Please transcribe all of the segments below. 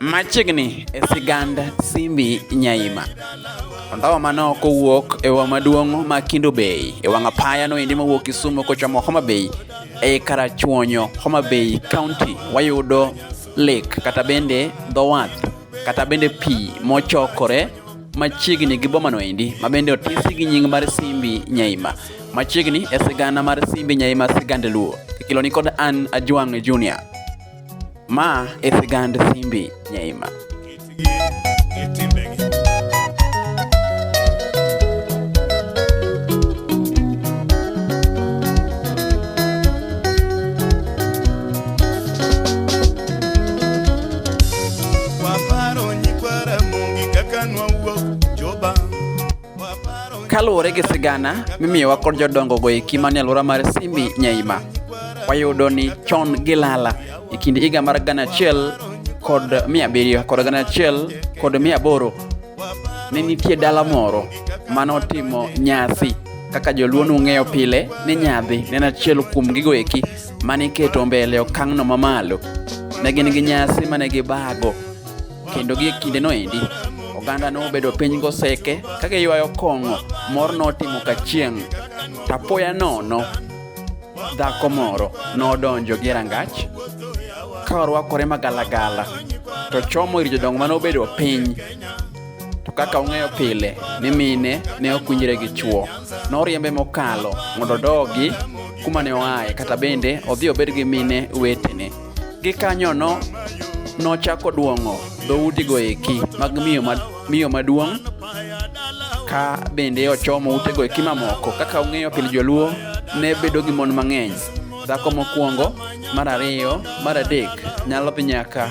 Machiegni e sigand Simbi Nyaima. Ondawa mano kowuok e wa maduong' ma Kindo Bay e wang' apaya no endi mawuok Kisumu kochomo Homa Bay e karachuonyo Homa Bay County wayudo lake kata bende dho wath kata bende pi mochokore machiegni gi bomano endi ma bende otisi gi nying mar Simbi Nyaima. Machiegni e sigana mar Simbi Nyaima sigand Luo. Ikelo ni kod an Ajwang' Junior. Ma e sigand Simbi Nyaima. Kaluwore gi sigana mimiyowa kod jodongogo e kima ni alwora mar Simbi Nyaima, wayudo ni chon gilala e kind higa mar gana achiel kod mia abiriyo kod gana achiel kod mia aboro ne nitie dala moro mane otimo nyasi kaka joluo nung'eyo pile ni nyadhi ne en achiel kuom gigo eki mane iketo mbele e okang'no mamalo. Ne gin gi nyasi mane gibago kendo gi kindeno endi oganda nobedo piny goseke ka giywayo kong'o mor notimo ka chieng' tapoya nono dhako moro nodonjo gi rangach ka orwakore magalagala to chomo ir jodongo mane obedo piny To kaka ung'eyo pile ni mine ne ok winjre gi chwo, noriembe mokalo mondo odogi kuma ne oaye kata bende odhi obed gi mine wetene. Gikanyono nochako duong'o dhoudigo eki mag miyo, ma, miyo maduong' ka bende ochomo utego eki mamoko. Kaka ung'eyo pile joluo ne bedo gi mon mang'eny, dhako mokwongo, mar ariyo, mar adek nyalo dhi nyaka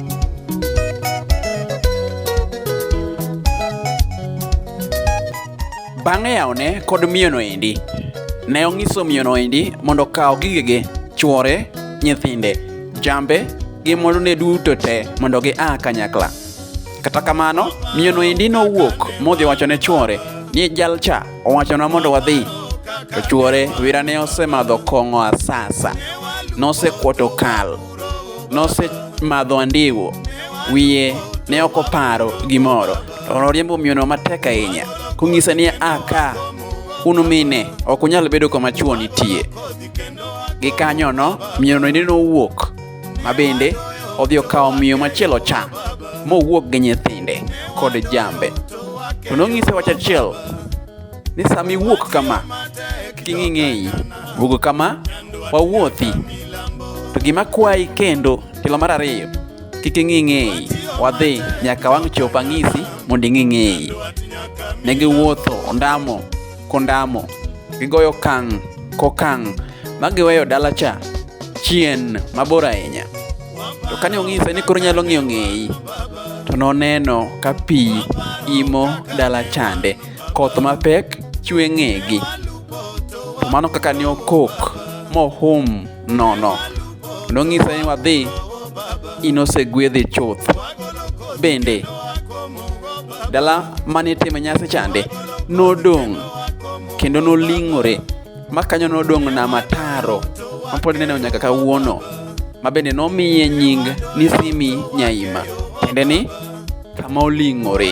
Bang'e yawone kod miyono endi. Ne onyiso miyono endi mondo okaw gigege, chwore, nyithinde, jambe gi mwandune duto te mondo gia kanyakla. Kata kamano, miyono endi nowuok modhi wacho ne chwore ni jalcha owachona mondo wadhi. To chwore wira ne osemadho kong'o asasa, nosekwoto kal. nosemadho andiwo, wiye ne ok oparo gimoro. To noriembo miyono matek ahinya, kong'ise ni a ka unumine ok unyal bedo kama chwo nitie. Gikanyono miyono ende nowuok ma bende odhi okawo miyo machielo cha mowuok gi nyithinde kod jambe. To nong'ise wach achiel ni sama iwuok kama king'ing'eyi wuogo kama wawuothi to gima kwayi kendo tilo mar ariyo kik ing'ing'eyi wadhi nyaka wang' chop ang'isi mondo ing'ing'eyi ne giwuotho ondamo kondamo gigoyo kang' kokang' ma giweyo dala cha chien mabor ahinya to kane ong'ise ni koro nyalo ng'iyo ng'eyi to noneno ka pi imo dala chande koth mapek chwe ng'egi. To mano kaka ne okok mohum nono. Nong'ise ni wadhi in osegwedhi chuth. Bende, dala mane itime nyasi chande nodong' kendo noling'ore ma kanyo nodong' nama taro ma pod ineno nyaka kawuono ma bende nomiye nying ni Simi Nyaima tiende ni kama oling'ore.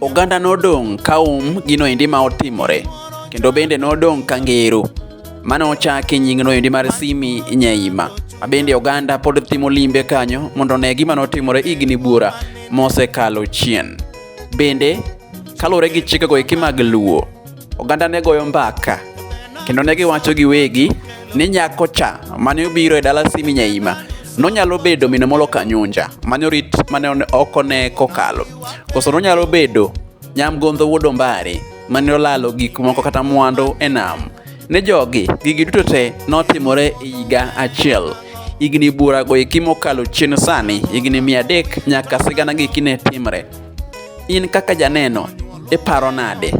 Oganda nodong' ka um gino endi ma otimore, kendo bende nodong' ka ngero. Mane ochaki nyingno endi mar Simi Nyaima, ma bende oganda pod timo limbe kanyo mondo one gima notimore higni buora mosekalo chien. Bende, kaluwore gi chikego eki mag Luo, oganda ne goyo mbaka kendo ne giwacho giwegi ni nyako cha mane obiro e dala Simi Nyaima nonyalo bedo mine molo Kanyunja mane orit mane oko ne kokalo koso nonyalo bedo nyamgondho wuod Ombare mane olalo gik moko kata mwandu e nam ne jogi gigi duto te notimore e higa achiel higni burago eki mokalo chien sani higni mia adek nyaka sigana gi kine timre In kaka janeno, iparo nade?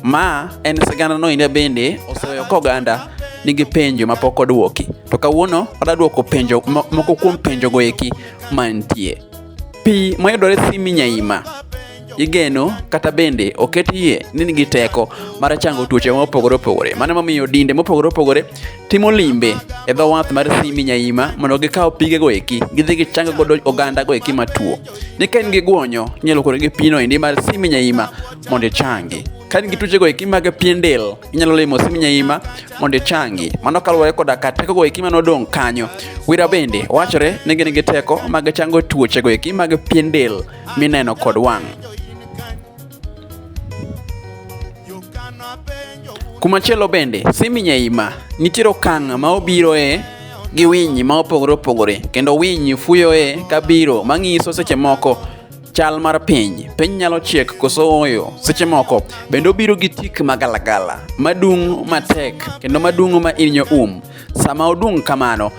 Ma en sigana no inde bende oseweyo koganda nigi penjo mapok odwoki. To kawuono wadwa dwoko penjo moko kuom penjo go eki mantie. Pi mayudore Simi Nyaima igeno kata bende oket yie ni nigi teko mar chango tuoche mopogore opogore. Mano momiyo dinde mopogore opogore timo limbe e dho wath mar Simi Nyaima mondo gikaw pige go eki gidhi gichang godo oganda go eki matuo. ni ka in gi guonyo inyalo kore gi pino endi mar simi nyaima mondo ichangi ka in gi tuchego eki mag pien del inyalo limo simi nyaima mondo ichangi mano kaluwore koda ka tekogo eki mane odong' kanyo wira bende wachore ni gin gi teko mag chango tuochego eki mag pien del mineno kod wang' Kumachielo bende, Simi Nyaima nitiere okang' ma obiroe gi winy ma opogore opogore kendo winy fuyoe ka biro mang'iso seche moko chal mar piny piny nyalo chiek koso oyo seche moko bende obiro gi tik magalagala madung' matek kendo madung' ma inyo um sama odung' kamano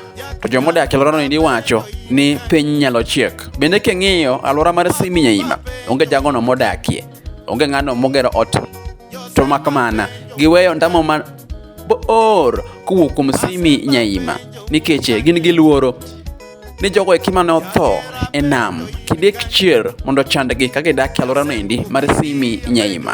to joma odak e alworano endi wacho ni piny nyalo chiek. Bende king'iyo alwora mar Siminyaima, onge jagono modakie, onge ng'ano mogero ot, to mak mana giweyo ndamo ma boor kowuok kuom Simi Nyaima nikech gin gi luoro ni jogo eki mane otho e nam kidek chier mondo chandgi ka gidak e alworano endi mar Simi Nyaima.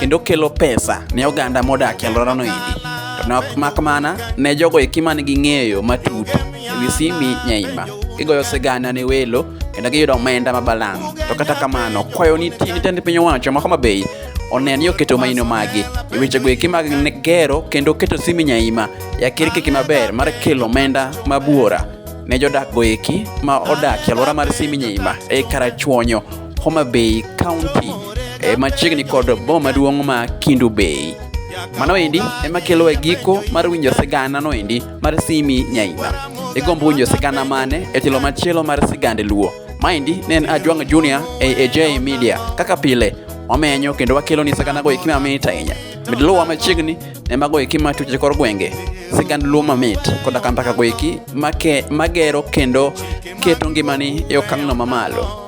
kendo kelo pesa ne oganda modak e alworano endi. To ne ok mak mana ne jogo eki man gi ng'eyo matut ewi Simi Nyaima. Gigoyo sigana ne welo kendo giyudo omenda mabalang'. To kata kamano, kwayo nitie ni tend piny owacho ma Homa Bay onen ni oketo maino magi e wechego eki mag ne- gero kendo keto Simi Nyaima e akirkiki maber mar kelo omenda mabuora ne jodakgo eki ma odak e alwora mar Simi Nyaima e Karachuonyo Homa Bay County e machiegni kod boma maduong' ma Kindu Bay. Mano endi ema kelo e giko mar winjo sigana no endi mar Simi Nyaima. Igombo winjo sigana mane e telo machielo mar sigand Luo. Maendi ne en Ajwang' Junior e AJ Media. Kaka pile wamenyo kendo wakelo ni sigana go ikima mamit ahinya. Med luwa machiegni ne mago iki ma tuche kor gwenge. Sigand Luo mamit koda ka mbaka go iki make magero kendo keto ngimani e okang'no mamalo.